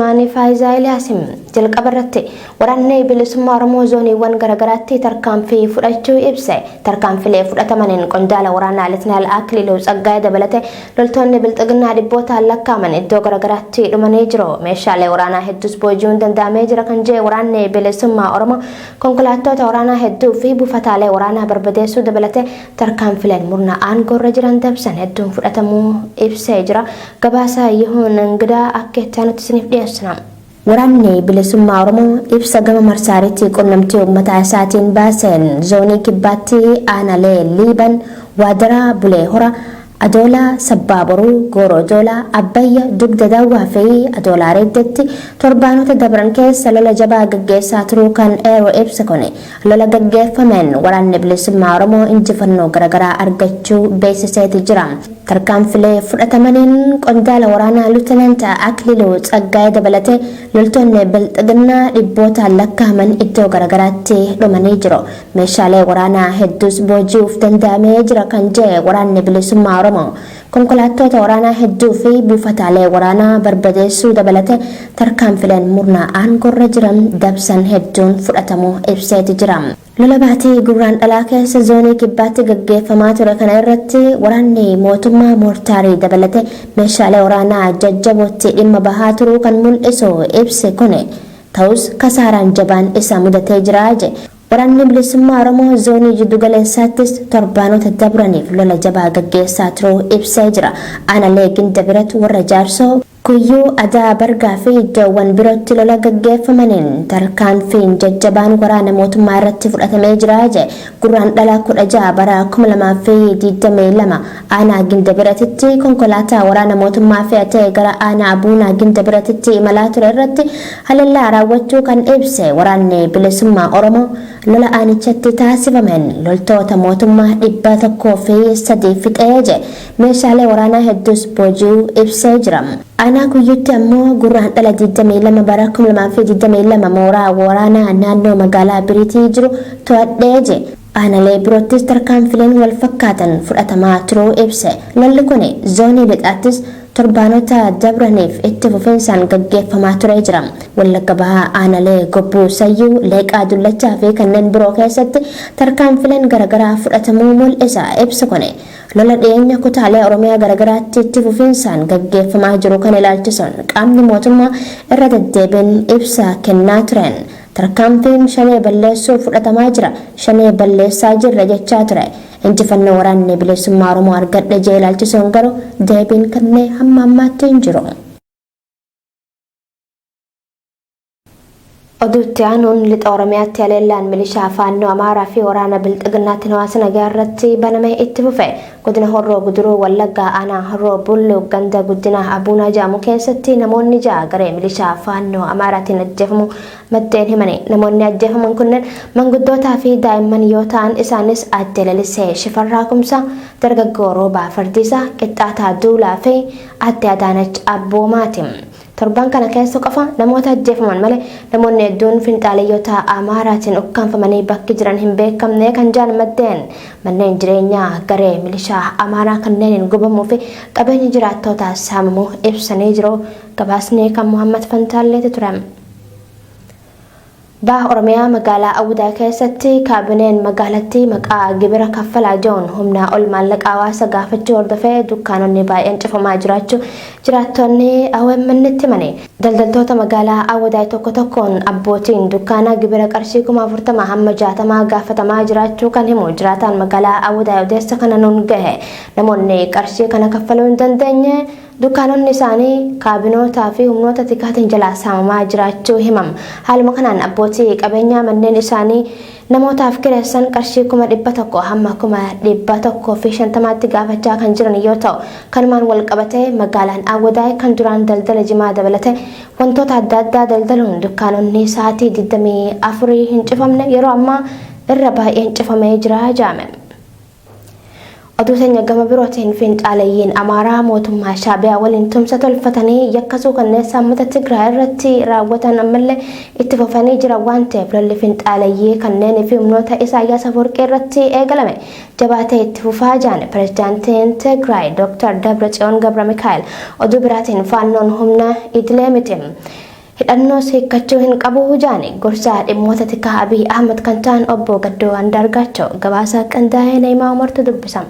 Maanii Faayizaa Eliyaasiin jalqaba irratti Waraanni Bilisummaa Oromoo zooniiwwan garaagaraatti tarkaanfii fudhachuu ibse. Tarkaanfilee fudhatamaniin qondaala waraanaa Litnaal Akiliiluu Tsaggaayee dabalatee loltoonni Bilxiginnaa dhibbootaan lakkaa'aman iddoo garaagaraatti dhumanii jiru. Meeshaalee waraanaa hedduus booji'uun danda'amee jira kan jedhe Waraanni Bilisummaa Oromoo konkolaattoota waraanaa hedduu fi buufataalee waraanaa barbadeessuu dabalatee Tarkaanfileen murna aangoorra jiran dabsan hedduun fudhatamuu ibsee jira. Gabaasa Yihuun Ingidaa akka itti aanutti isiniif dhiyeessina. Waraanni Bilisummaa Oromoo ibsa gama marsaariitii qunnamtii uummataa isaatiin baaseen Zoonii Kibbaatti Aanalee Liiban, Waadaraa, Bulee Hora, Adoola, Sabbaa Boruu, Gooroo Doolaa, Abbayya, Dugda Dawwaa fi Adoola Areeddeetti torbaanota dabran keessa lola jabaa gaggeessaa turuu kan eeru ibsi kun, lola gaggeeffameen Waraanni Bilisummaa Oromoo injifannoo garagaraa argachuu beeksiseeti jira. Tarkaanfilee fudhatamaniin qondaala waraanaa Lutenant Akliluu Tsaggaayee dabalatee loltoonni Bilxiginnaa dhibbootaan lakkaa'aman iddoo garagaraatti dhumanii jiru. Meeshaalee waraanaa hedduus booji'uuf danda'amee jira kan jedhe Waraanni Bilisummaa Oromoo, konkolaattoota waraanaa hedduu fi buufataalee waraanaa barbadeessuu dabalate tarkaanfileen murna aangorra jiran dabsan hedduun fudhatamuu ibseeti jira. Lola baatii Gurraandhalaa keessa Zoonii Kibbaatti gaggeeffamaa ture kana irratti waraanni mootummaa moortaarii dabalate meeshaalee waraanaa jajjabootti dhimma bahaa turuu kan mul'isu ibsi kuni, Ta'us kasaaraan jabaan isa mudatee jira, jedhe. Waraanni Bilisummaa Oromoo Zoonii Jiddu Galeessaattis torbaanota dabraniif lola jabaa gaggeessaa turuu ibsee jira. Aanalee Gindabirat, Warra Jaarsoo, Kuyyuu, Adaa Bargaa fi iddoowwan birootti lola gaggeeffamaniin tarkaanfiin jajjabaan waraana mootummaa irratti fudhatamee jira, jedhe. Gurraandhala 16 bara 2022 Aanaa Gindabiratitti konkolaataa waraana mootummaa fe'atee gara aanaa Abuunaa Gindabiratitti imalaa ture irratti halellaa raawwachuu kan ibse Waraanni Bilisummaa Oromoo, lola aanichatti taasifameen loltoota mootummaa 103 fixee jedhe, meeshaalee waraanaa hedduus booji'uu ibsee jira. Aanaa Kuyyuutti ammoo Gurraandhala 22 bara 2022 mooraa waraanaa naannoo magaalaa Biriitii jiru to'adhe jedhe. Aanalee biroottis tarkaanfileen walfakkaatan fudhatamaa turuu ibse. Lolli kuni Zoonii Lixaattis torbaanota dabraniif itti fufinsaan gaggeeffamaa turee jira. Wallagga Bahaa Aanalee Gobbuu Sayyuu, Leeqaa Dullachaa fi kanneen biroo keessatti tarkaanfileen garagaraa fudhatamuu mul'isa ibsi kuni. Lola dhiyeenya kutaalee Oromiyaa garagaraatti itti fufinsaan gaggeeffamaa jiru kana ilaalchisuun qaamni mootummaa irra deddeebiin ibsa kennaa tureen, Tarkaanfiin Shanee balleessuuf fudhatamaa jira, Shanee balleessaa jirra jechaa ture. Injifannoo Waraanni Bilisummaa Oromoo argadhe jee ilaalchisuun garuu deebiin kenne hamma ammaatti hin jiru. Oduu itti aanuun Lixa Oromiyaatti haleellaan milishaa Faannoo Amaaraa fi waraana Bilxiginnaatiin hawaasa nagaa irratti baname itti fufe. Godina Horroo Guduruu Wallaggaa Aanaa Horroo Bulluq ganda Guddinaa Abuunaa jedhamu keessatti namoonni ja'a garee milishaa Faannoo Amaaraatiin ajjeefamuu maddeen himani. Namoonni ajjeefaman kunneen manguddootaa fi daa'imman yoo ta'an isaanis Aadde Lalisee Shifarraa Kumsaa, Dargaggoo Roobaa Fardiisaa, Qixxaataa Duulaa fi Aadde Adaanach Abboomaati. Torban kana keessa qofa namoota ajjeefaman malee namoonni hedduun finxaaleyyoota Amaaraatiin ukkaamfamanii bakki jiran hin beekamne kan jedhan maddeen, manneen jireenyaa garee milishaa Amaaraa kanneeniin gubamuu fi qabeenyi jiraattootaa saamamuu ibsanii jiru. Gabaasni kan Muhammad Fantaalleeti ture. Baha Oromiyaa magaalaa Awudaa keessatti kaabineen magaalattii maqaa gibira kaffalaa jedhuun humnaa ol maallaqa hawaasa gaafachuu hordofee dukkaanonni baay'een cufamaa jiraachuu jiraattonni OMN'tti himani. Daldaltoota magaalaa Awudaay tokko tokkoon abbootiin dukkaanaa gibira qarshii kuma 40 hamma 60 gaafatamaa jiraachuu kan himu jiraataan magaalaa Awudaay odeessa kana nuun gahe namoonni qarshii kana kaffaluu hin dandeenye Dukkaanonni isaanii kaabinootaa fi humnoota tikaatiin jalaa saamamaa jiraachuu himam. Haaluma kanaan abbootii qabeenyaa manneen isaanii namootaaf kireessan qarshii kuma 100 hamma kuma 150tti gaafachaa kan jiran yoo ta'u, kanumaan walqabatee magaalaan Awwadaay kan duraan daldala jimaa dabalate wantoota adda addaa daldaluun dukkaanonni sa'aatii 24 hin cufamne yeroo ammaa irra baay'een cufamee jira jedhame. Oduu teenya gama birootiin finxaaleyyiin Amaaraa mootummaa Shaabiyaa waliin tumsa tolfatanii yakka suukanneessaa uummata Tigraay irratti raawwatan ammallee itti fufanii jiran waan ta'eef lolli finxaaleyyii kanneenii fi humnoota Isaayyaas Afawarqii irratti eegalame jabaatee itti fufaa jedhan pirezidaantiin Tigraay Dr. Dabratsiyoon Gabramikaa'el. Oduu biraatiin faannoon humna idilee miti. Hidhannoos hiikkachuu hin qabu jaani gorsaa dhimmoota tikaa Abiy Ahmad kan ta'an obbo Gaddoo Andaargaachaw gabaasa qindaa'ee Na'imaa Umartu dubbisa.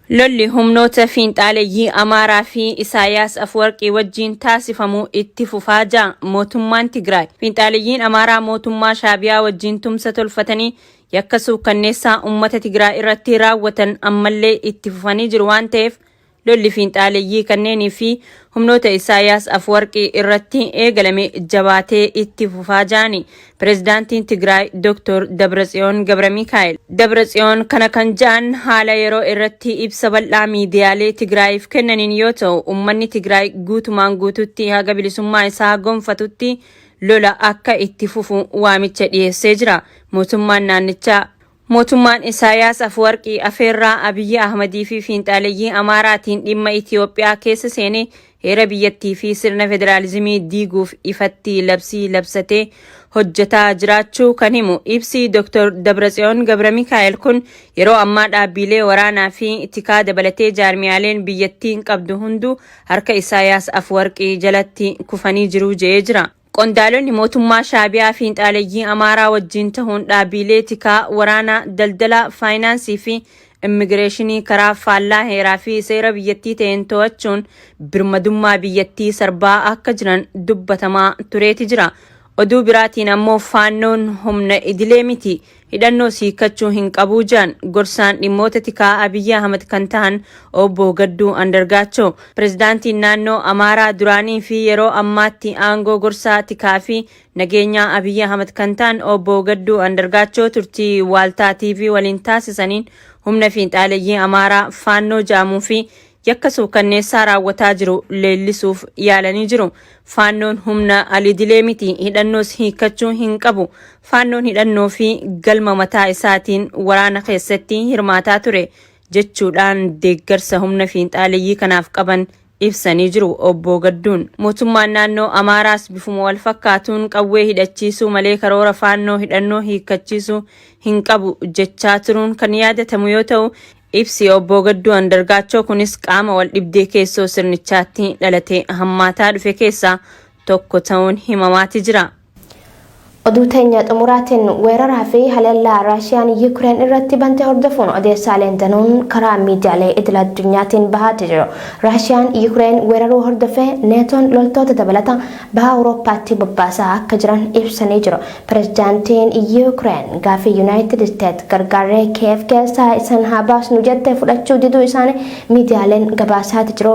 Lolli humnoota fiinxaaleyyii Amaaraa fi Isaayaas Afwarqii wajjiin taasifamu itti fufaa ja Mootummaan Tigraay. Fiinxaaleyyiin Amaaraa mootummaa Shaabiyaa wajjiin tumsa tolfatanii yakka suukkanneessaa ummata Tigraay irratti raawwatan ammallee itti fufanii jiru waan ta'eef Lolli fiinxaaleyyii kanneenii fi humnoota Isaayaas Afwarqi irratti eegalame jabaatee itti fufaa ja'ani Pirezidaantiin Tigraay Dr. Dabratsiyoon Gabramikaa'el. Dabratsiyoon kana kan ja'an haala yeroo irratti ibsa bal'aa miidiyaalee Tigraayiif kennaniin yoo ta'u, ummanni Tigraay guutumaan guututti haga bilisummaa isaa gonfatutti lola akka itti fufu waamicha dhiyeessee jira. Mootummaan naannichaa Mootummaan Isaayaas Afuwarqi afeerraa Abiyyi Ahmadii fi fiinxaaleyyii Amaaraatiin dhimma Itiyoophiyaa keessa seenee heera biyyattii fi sirna federaalizimii diiguuf ifatti labsii labsatee hojjetaa jiraachuu kan himu ibsi Dr. Dabratsiyoon Gabramikaa'el kun yeroo ammaa dhaabbiilee waraanaa fi tikaa dabalatee jaarmiyaaleen biyyattiin qabdu hunduu harka Isaayaas Afuwarqi jalatti kufanii jiru je'ee jira. Qondaalonni mootummaa Shaabiyaa fiinxaaleyyii Amaaraa wajjiin tahuun dhaabiilee tikaa, waraanaa, daldalaa, faayinaansii fi immigireeshinii karaa faallaa heeraa fi seera biyyattii taheen to'achuun birmadummaa biyyattii sarbaa akka jiran dubbatamaa tureeti jira. Oduu biraatiin ammoo Faannoon humna idilee miti. hidhannoos hiikkachuu hin qabuu jedhan gorsaan dhimmoota tikaa Abiyyi Ahmad kan tahan obbo Gadduu Andargaachoo. Pirezidaantiin naannoo Amaaraa duraanii fi yeroo ammaatti aangoo gorsaa tikaa fi nageenyaa Abiyyi Ahmad kan tahan obbo Gadduu Andargaachoo turtii Waaltaa TV waliin taasisaniin humna fiinxaaleyyii Amaaraa Faannoo jedhamuu fi yakka suukanneessaa raawwataa jiru leellisuuf yaalanii jiru. Faannoon humna alidilee miti, hidhannoos hiikkachuu hin qabu. Faannoon hidhannoo fi galma mataa isaatiin waraana keessatti hirmaataa ture jechuudhaan deeggarsa humna fiinxaaleyyii kanaaf qaban ibsanii jiru Obbo Gadduun. Mootummaan naannoo Amaaraas bifuma wal fakkaatuun qawwee hidhachiisuu malee karoora faannoo hidhannoo hiikkachiisuu hin qabu jechaa turuun kan yaadatamu yoo ta'u, Ibsi Obboo Gadduu Andargaachoo kunis qaama waldhibdee keessoo sirnichaatti dhalatee hammaataa dhufe keessaa tokko ta'uun himamaati jira. Oduu teenya xumuraatiin weeraraa fi haleellaa Raashiyaan Yukireen irratti bante hordofuun odeessaaleen danuun karaa miidiyaalee idil addunyaatiin bahaati jiru. Raashiyaan Yukireen weeraruu hordofee Neetoon loltoota dabalata Baha Awurooppaatti bobbaasaa akka jiran ibsanii jiru. Pirezidaantiin Yuukireen gaaffii Yunaayitid Isteets gargaarree Kiyeev keessaa isan haa baasnu jette fudhachuu diduu isaanii miidiyaaleen gabaasaati jiru.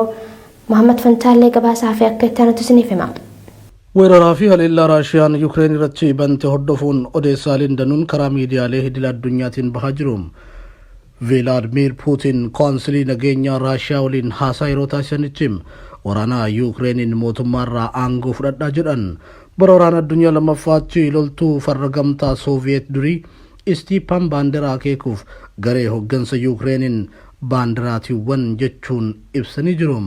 Mohaammad Fantaallee gabaasaa fi akka itti aanutti isiniif hima. Weeraraa fi haleellaa Raashiyaan Yuukireen irratti bante hordofuun odeessaaleen danuun karaa miidiyaalee idil addunyaatiin bahaa jiru. Vilaadmiir Puutin Koonsilii Nageenyaa Raashiyaa waliin haasaa yeroo taasisanitti, waraana Yuukireeniin mootummaarraa aangoo fudhadha jedhan. Bara Waraana Addunyaa Lammaffaatti loltuu farra Gamtaa Sooviyeet durii Istiipaan Baanderaa akeekuuf garee hoggansa Yuukireeniin Baanderaatiiwwan jechuun ibsanii jiru.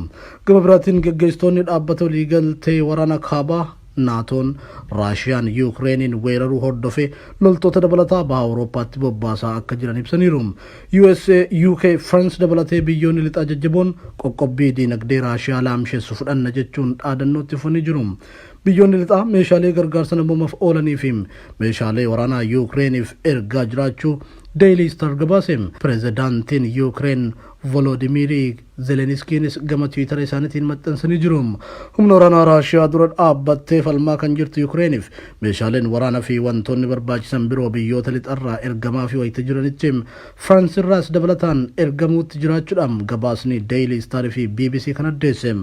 Gama biraatiin gaggeessitoonni Dhaabbata Waliigaltee Waraana Kaabaa, Naatoon Raashiyaan Yuukireeniin weeraruu hordofee loltoota dabalataa Baha Awurooppaatti bobbaasaa akka jiran ibsaniiru. USA, UK, France dabalatee biyyoonni Lixaa jajjaboon qoqqobbii diinagdee Raashiyaa laamshessu fudhanna jechuun dhaadannoo itti fufanii jiru. Biyyoonni Lixaa meeshaalee gargaarsa namoomaf oolanii fi meeshaalee waraanaa Yuukireeniif ergaa jiraachuu Daily Star gabaase. Pirezidaantiin Yuukireen Volodimiirii Zeleniskiinis gama Tiwiitara isaanitiin maxxansanii jiru. Humna waraanaa Raashiyaa dura dhaabbattee falmaa kan jirtu Yukireeniif meeshaaleen waraana fi wantoonni barbaachisan biroo biyyoota lixarraa ergamaafii wayita jiranitti Firaans irraas dabalataan ergamuutti jiraachuudhaam gabaasni Daily Star fi bbc kan addeesse.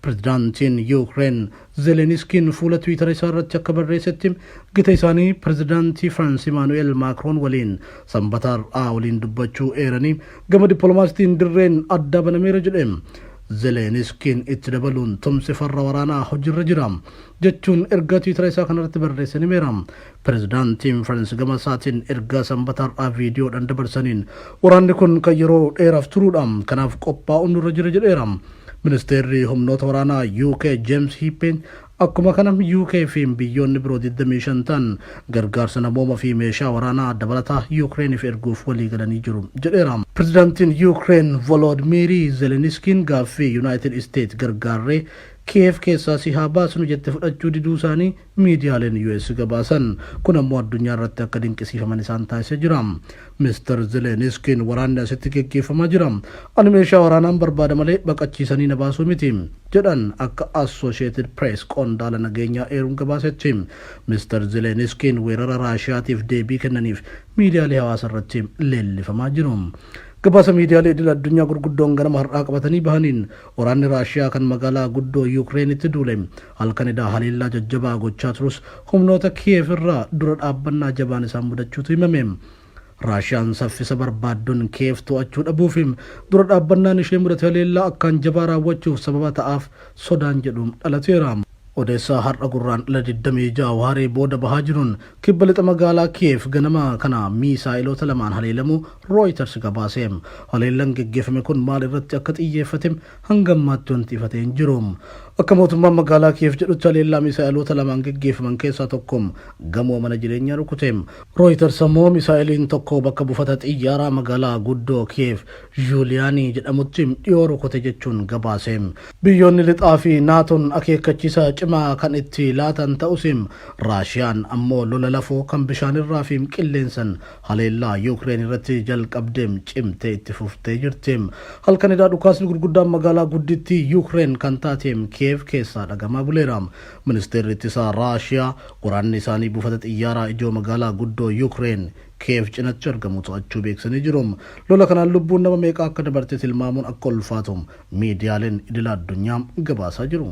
Pirezidaantiin Yukireen Zeleniskiin fuula Twiitara isaa irratti akka barreessetti, gita isaanii Pirezidaantii Firaans Imaanu'eel Maakroon waliin Sanbata har'aa waliin dubbachuu eeranii, gama dippiloomaasiitiin dirreen addaa banameera jedhe. Zeleniskiin itti dabaluun, Tumsi farra waraanaa hojiirra jira, jechuun ergaa Twiitara isaa kanarratti barreesseen himeera. Pirezidaantiin Faransi gama isaatiin ergaa Sanbata har'aa viidiyoodhaan dabarsaniin waraanni kun kan yeroo dheeraaf turuudha, kanaaf qophaa'uun nurra jira jedheera. Ministeerri humnoota waraanaa UK Jeems Hiippeen akkuma kana UK fi biyyoonni biroo 25 ta'an gargaarsa namooma fi meeshaa waraanaa dabalataa Yuukireeniif erguuf waliigalanii jiru jedheera. Pirezidaantiin Yuukireen Voloodmiirii Zeleniskiin gaaffii Yunaayitid Isteet gargaarree Kiyeev keessaa si haa baasnu jette fudhachuu diduu isaanii miidiyaaleen US gabaasan. Kun ammoo addunyaa irratti akka dinqisiifaman isaan taasisee jira. Mister Zeleniskiin waraanni asitti geggeeffamaa jira. Ani meeshaa waraanaan barbaada malee baqachiisanii na baasuu miti, jedhan akka Associated Press qondaala nageenyaa eeruun gabaasetti. Mister Zeleniskiin weerara Raashiyaatiif deebii kennaniif miidiyaalee hawaasa irratti leellifamaa jiru. Gabaasa miidiyaalee idil addunyaa gurguddoon ganama har'aa qabatanii bahaniin, waraanni Raashiyaa kan magaalaa guddoo Yuukireenitti duule, Halkan edhaa haleellaa jajjabaa gochaa turus humnoota Kiyeev irraa dura dhaabbannaa jabaan isaan mudachuutu himame. Raashiyaan saffisa barbaaddun Kiyeev to'achuu dhabuu fi dura dhaabbannaan ishee mudate haleellaa akkaan jabaa raawwachuuf sababa ta'aaf sodaan jedhu dhalateera. Odeessa har'a Gurraandhala 26 waaree booda bahaa jiruun kibba lixa magaalaa Kiyeev ganama kana miisaa'iloota lamaan haleelamuu Rooyiters gabaase. Haleellan geggeeffame kun maal irratti akka xiyyeeffate hanga ammaatti wanti ifa ta'e hin jiru. Akka mootummaan magaalaa Kiyeev jedhutti haleellaa misaa'eloota lamaan geggeeffaman keessaa tokko gamoo mana jireenyaa rukute. Rooyitars ammoo misaa'eliin tokko bakka buufata xiyyaaraa magaalaa guddoo Kiyeev Zhuuliyaanii jedhamutti dhiyoo rukute jechuun gabaase. Biyyoonni Lixaa fi Naatoon akeekkachiisa cimaa kan itti laatan ta'us, Raashiyaan ammoo lola lafoo kan bishaanirraa fi qilleensan Haleellaa Yuukireen irratti jalqabde cimtee itti fuftee jirti. Halkan edaa dhukaasni gurguddaan magaalaa guddittii Yuukireen kan taate Kiyeev keessaa dhagamaa buleera. Ministeerri Ittisaa Raashiyaa waraanni isaanii buufata xiyyaaraa ijoo magaalaa guddoo Yuukireen Kiyeev cinatti argamu to'achuu beeksisanii jiru. Lola kanaan lubbuun nama meeqaa akka dabarte tilmaamuun akka ulfaatu miidiyaaleen idila addunyaa gabaasaa jiru.